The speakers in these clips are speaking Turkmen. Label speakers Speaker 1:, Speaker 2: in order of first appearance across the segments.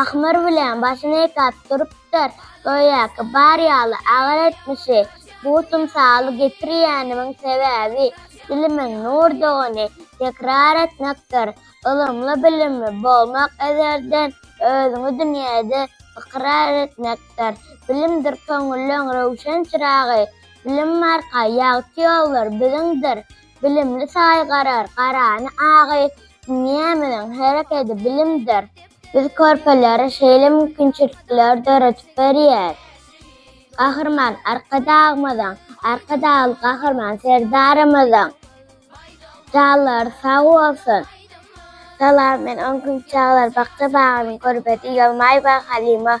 Speaker 1: Ahmyr bilen başyny ýykap durupdyr. Göýäki, bar ýaly agyr etmişi. Bu tymsaly getirýänimiň sebäbi, dilimiň nurdugyny tekrar etmekdir. Ylymly-bilimli bolmak ezelden özüňi dünýäde ykrar etmekdir. Bilimdir köňülleň röwşen çyragy. Bilim arka ýagty ýollar biziňdir. Bilimli saýgarar garany agy, Dünýämiziň herekedi bilimdir. Biz körpelere şeýle mümkinçilikleri döredip berýäris. Gahryman Arkadagymyzyň, Arkadagly Gahryman Serdarymyzyň janlary sag bolsun! Salam, men on gün çagalar bakja bagynyň körbedi Ýolmaýewa Halyma.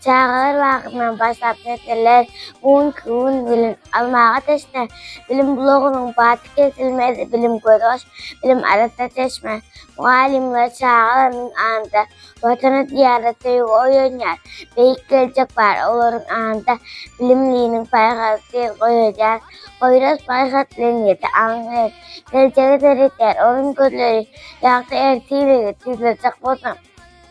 Speaker 1: Çagalar bagyndan başlap neseller gün-gün bilim almaga teşne. Bilim bulagynyň baty kesilmez, bilim gözbaş, bilim arassa çeşme. Mugallymlar çagalarynyň aňynda Watana, Diýara söýgi oýanýar, beýik geljek bar olaryň aňynda. Bilimliniň paýhasy tiz goýulýar, Poýraz paýhas bilen ýedi aň bilen. Geljege seredýär onuň gözleri, ýagty ertirligi tizlajak bolsaň.